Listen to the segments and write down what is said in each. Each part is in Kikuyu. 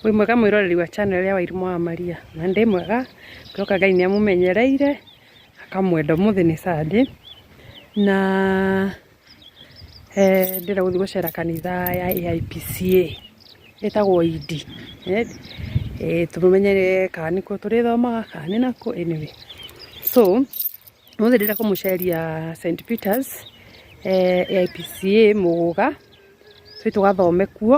Wĩ mwega mwĩroreri wa channel ya Wairimũ wa Maria, na ndĩ mwega ndoka Ngai nĩ amũmenyereire akamwenda ũmũthĩ nĩ Sunday na eh, ndĩra gũthiĩ gũcera kanitha ya AIPCA ĩtagwo Idi eh, eh, tũmenyere kana nĩkuo tũrĩthomaga kana nĩ nakuo anyway so ũmũthĩ ndĩra kũmũceria St Peters eh, AIPCA Mũgũga tũi tũgathome kuo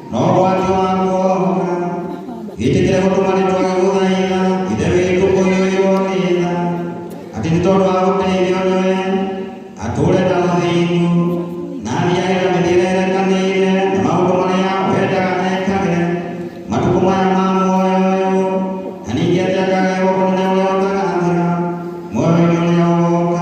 No rwagĩ wa kuohoka gĩtĩkĩre gũtũma nĩ twage gũthaitha ithe witũ kũiyũirwo nĩ tha atĩ nĩ tondũ wa gũteithio nĩwe atũũre na ũthingu na athiage na mĩthiĩre ĩrekanĩire na maũndũ marĩa wendaga ekage matukũ maya ma muoyo ũyũ na ningĩ atĩ akagaywo ũnene ũrĩa ũtagathira muoyo-inĩ ũrĩa ũgoka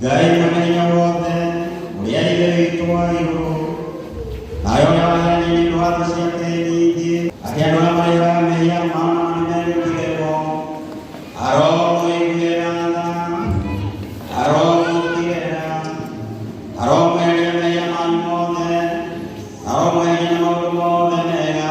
Ngai mũnene wothe ũrĩa ithe witũ wa igũrũ nayo yaheanire ndwatha ciake nyingĩ atĩ andũ arĩa marĩhaga mehia mao nĩ merutithĩrwo aromũiguĩra tha aromũkirĩra aromweheria mehia manyu mothe aromweheria na maũndũ mothe mega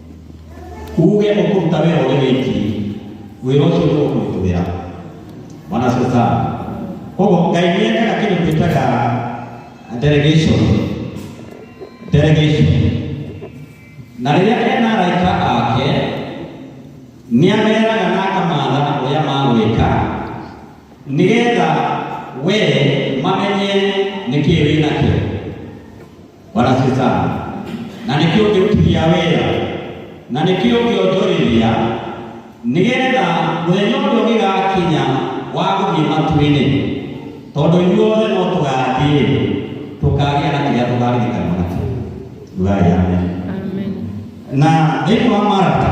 uge ũkũruta wĩra ũrĩ wiki wĩra ũcio nĩ ũkũrutũwĩra wanasesa koguo ngai nĩ ekaga kĩndũ twĩtaga delegation delegation na rĩrĩa ena araika ake nĩ ameraga na akamatha ũrĩa magwĩka nĩgetha we mamenye nĩkĩĩ wĩ nakĩo Bwana asifiwe sana. Na nĩkĩo ngĩrutithia wĩra na nĩkĩo ngĩonjorithia nĩgetha mũthenya ũrĩa ũgĩgakinya wa gũthiĩ matu-inĩ, tondũ inyuothe no tũgathiĩ tũkagĩa na kĩrĩa tũgaririkana nakĩo. Rugai amen. Amen. Na thĩinĩ wa Maraka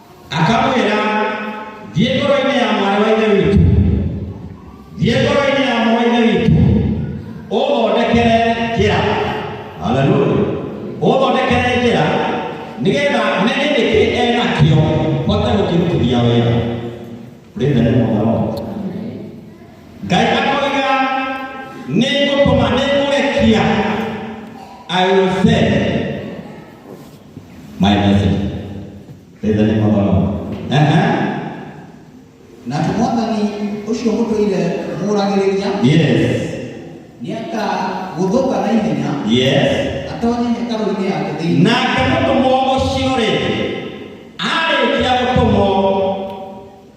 akamwĩra thiĩ ngoro-inĩ ya mwarĩ wa ithe witũ thiĩ ngoro-inĩ ya mwarĩ wa ithe witũ ũthondekere njĩra haleluya ũthondekere njĩra nĩgetha menye nĩkĩ enakĩo hote gũkĩrutithia wĩra rĩthe nĩ mũtharo ngai akoiga nĩ ngũtũma nĩ ngũgekia i will send My message. Praise the name of the Lord. Uh-huh. na atĩ mwathani ũcio mũtũire mũragĩrĩria Yes. nĩ akagũthũka na ihenya Yes. atonye hekarũ-inĩ yake thĩinĩ Nake mũtũmwo ũcio rĩngĩ arĩkia gũtũmwo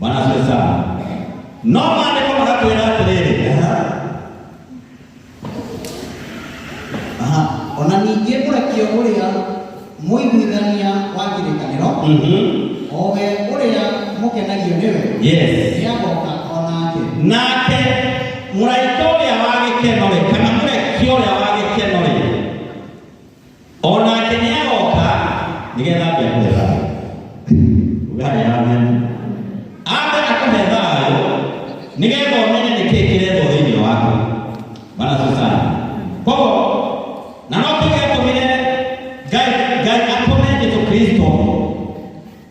Bwana asifiwe sana. No maandiko makatwĩra atĩrĩrĩ Aha, o na ningĩ mũrekio ũrĩa mũiguithania wa kĩrĩkanĩro Mhm. o we ũrĩa mũkenagio nĩwe Yes. nĩagoka o nake nake mũraika ũrĩa wa gĩkeno rĩ kana mũrekio ũrĩa wa gĩkeno rĩ o nake nĩ agoka nĩgetha ambe akũhe thayũ ugahe amen ambe akũhe thayũ nĩgetha ũmenye nĩ kĩĩ kĩrethwo thĩinĩ waku bana susana koguo na no tuge atũmire ngai ngai atũme jesu kristo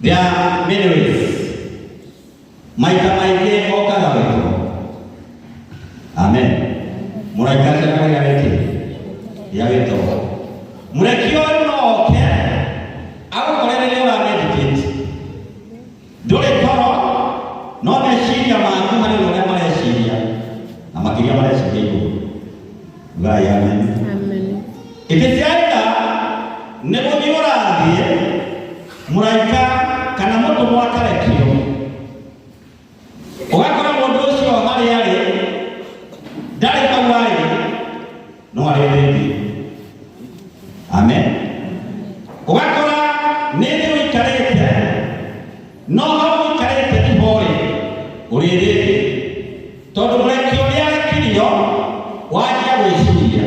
There are many ways. Maita maingĩ okaga wĩtũ. Amen. Mũraika ndakagĩa wĩtĩ. Ya wĩtũ. Mũrekio ũyũ no oke agũkore rĩrĩa ũra meditate. Ndũrĩ toro no meciria maku harĩ ũrĩa mareciria na makĩria mareciria igũrũ. Ngai amen. Amen. Ĩtĩkiaga nĩ gũthiĩ ũrathiĩ mũraika kana mũtũmwo akarekio ũgakora mũndũ ũcio harĩ arĩ ndarĩ hau arĩ no arĩ thĩinĩ amen ũgakora nĩ thĩ ũikarĩte no hau ũikarĩte ihorĩ ũrĩ thĩinĩ tondũ mũrekio nĩ arekirio wajia gwĩciria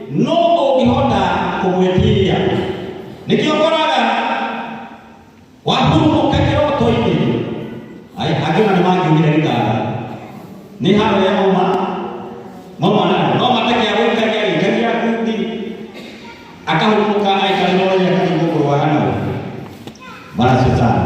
no ũngĩhota kũmwĩtiria nĩkĩo koraga wahurũka kĩroto-inĩ Ai, angĩ ona nĩ mangiugire gĩtara nĩ haro ya mama mama na no mateke ya gũikaria gĩikaria kundi akahurũka aikare no rĩrĩa kana igũkũrwa hano mara shetani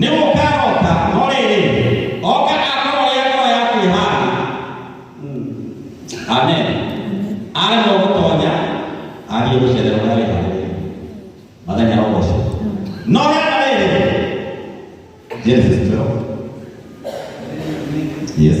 Nĩ mũkarota, no rĩrĩ, oka akorwo ya ngoro ya kwĩhara. Amen. Arĩ no gũtonya, athiĩ gũcerera ũrĩa wĩharĩrĩirie. Mathenya no ũcio. No hena rĩrĩ, Genesis 12. Yes.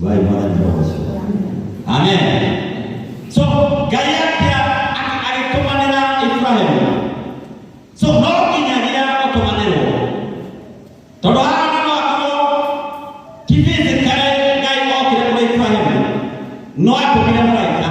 Vai mwana ni roho sio. Amen. So Ngai yake alitumanira Ibrahimu. So no nginya rĩrĩa ũtũmanĩrwo. Tondũ haha nĩ wakorwo ti physically Ngai okire kũrĩ Ibrahimu. No atũmire mũraika.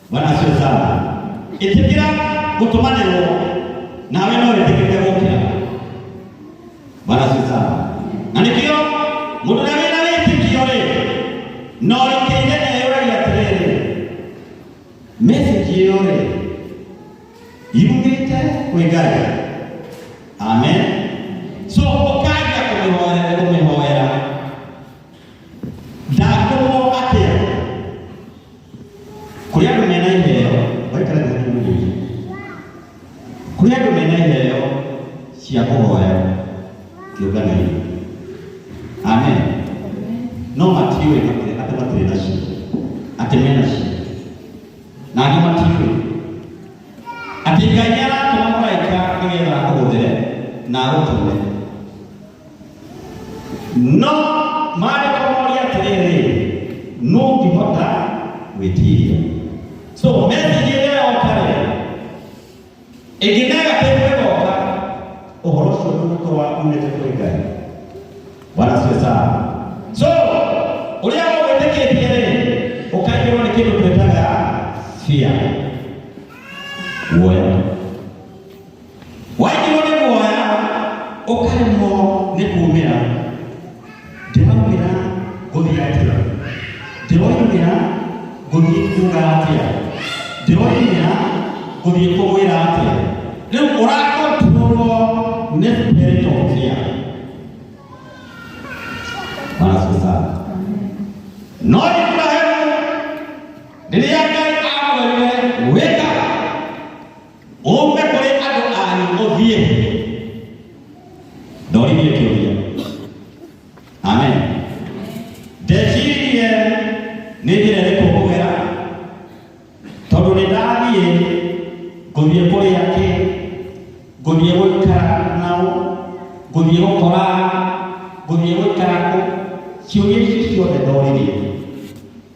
Bwana asifiwe sana. Ĩtĩkĩra gũtũmanĩrwo nawe no wĩtĩkĩrĩke gũkĩra. Bwana asifiwe sana. Na nĩkĩo mũndũ ũrĩa wĩna wĩtĩkio rĩ, no rĩngĩ inene yũragia atĩrĩrĩ, message ĩyo rĩ, yumĩte kwĩ Ngai. Amen. So ũkambia kũmĩhoera kũmĩhoera. Ndakũrwo atĩa? kũrĩ andũ mena iheo waikara thĩ hanini mũnini kũrĩ andũ mena iheo cia kũhoya kĩũngano-inĩ amen no matiũĩ matirĩ- atĩ matirĩ nacio atĩ me nacio na angĩ matiũĩ atĩ ngai nĩ aratũma mũraika nĩgetha akũhũthĩre na agũtũme no maarĩ kũmoria atĩrĩrĩ nũngĩhota gwĩtiria so message ĩrĩa yoka rĩ ĩngĩ negative ĩgoka ũhoro ũcio ndũgũkorwo umĩte kũrĩ ngai bwana siwe sana so ũrĩa ũgwĩtĩkĩtie rĩ ũkaigĩrwo nĩ kĩndũ twĩtaga fear guoya Waigirwo nĩ guoya ũkaremwo nĩ kuumĩra, ndĩraumĩra ngũthiĩ atĩa? Ndĩroimĩra ngũthiĩ kuuga atĩa? Ndĩroimĩra ngũthiĩ kũmwĩra atĩa? Rĩu ũrakontrolwo nĩ spirit of fear. Bwana asifiwe sana. No Ibrahimu rĩrĩa Ngai amwĩrire wĩka Ũũke kũrĩ andũ anyu ũthiĩ. Ndoririe kĩũria. Amen. Ndecirie nĩ njĩra ĩrĩkũ ngũgera tondũ nĩ ndathiĩ ngũthiĩ kũrĩa kĩ ngũthiĩ gũikara nao ngũthiĩ gũkora ngũthiĩ gũikara kũ ciũria icio ciothe ndoririe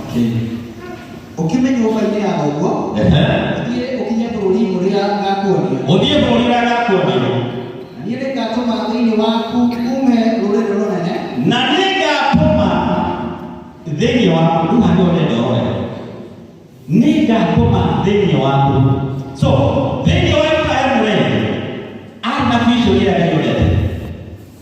Okay. Ũkĩmenya ũbainĩ ya ũguo, Ehe. thiĩ ũkinye bũrũri ũrĩa ngakuonia. Ũthiĩ bũrũri ũrĩa ndakuonia. Niĩ nĩngatũma thĩinĩ waku uume rũrĩrĩ rũnene, Na nĩngatũma thĩinĩ waku, rĩu handũ ũrenda ũrore. Nĩngatũma thĩinĩ waku. So, thĩinĩ wa Ibrahim rĩ, arĩ na vision ĩrĩa Ngai ũrenda.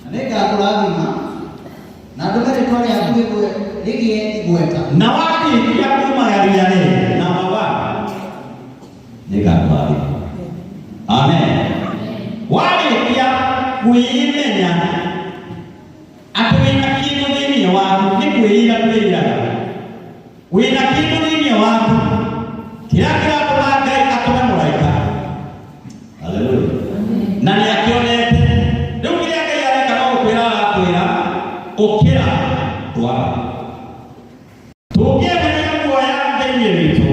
Na nĩngakũrathima na ndũme rĩtwa rĩaku rĩgwe- rĩgĩe igweta na warĩkia kuma yaria rĩrĩ na mawa nĩngakũrathima amen warĩkia kwĩĩmenya atĩ wĩna kĩndũ thĩinĩ waku nĩ kwĩĩra twĩĩraga wĩna kĩndũ thĩinĩ waku kĩrĩa kĩratũma ngai atũme mũraika haleluya na nĩ akĩonete rĩu kĩrĩa ngai areka no gũkwĩra arakwĩra ũkĩra ndwara tũngĩeheria guoya thĩinĩ witũ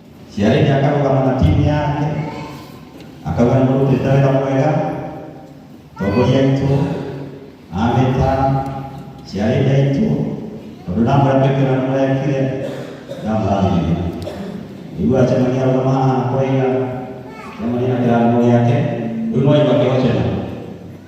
Ciarĩni akarũgama na timu yake akauga nĩ mũrutĩte wĩra mwega tongoria aitũ ameta ciarĩni aitũ tondũ ndamwĩra twĩkĩra nĩ mũrekire ndamũrathimire nĩguo acemania arũgama haha kũraiga acemania na kĩrathimo gĩake rĩu no imakĩhocena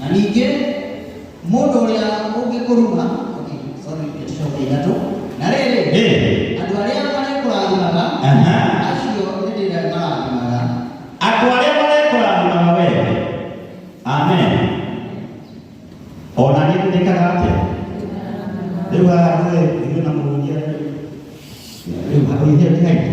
na ningĩ mũndũ ũrĩa ũngĩkũruma okay, sorry, tũcoke ithatũ na rĩrĩ Eh. andũ arĩa marĩkũrathimaga Aha. acio nĩ ndĩrĩa marathimaga andũ arĩa marekũrathimaga wee amen ona niĩ ndĩkaga atĩa rĩu haha rũĩ ithuĩ na mũhunjia rĩu rĩu hakuhĩ nĩ kaingĩ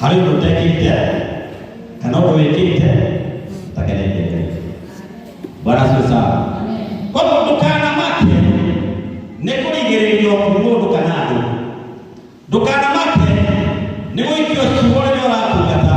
harĩ ũndũ ũtekĩte kana ũndũ wĩkĩte ũtakenetie Ngai. Bwana asifiwe sana. Kwa hivyo ndũkanamake nĩ kũrigĩrĩrio nĩ mũndũ kana andũ, ndũkanamake nĩ gũikio ciugo rĩrĩa ũratungata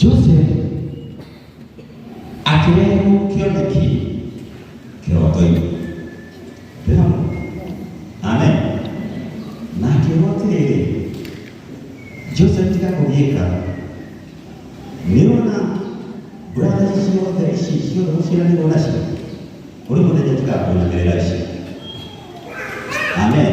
Joseph akĩrehwo kĩoneki kĩroto-inĩ ndĩrona amen na akĩrwo atĩrĩrĩ Joseph tiga kũgiĩka nĩona brother ici ciothe ici ciothe ũciaranĩrwo nacio ũrĩ mũthenya tiga kũnyamĩrĩra ici amen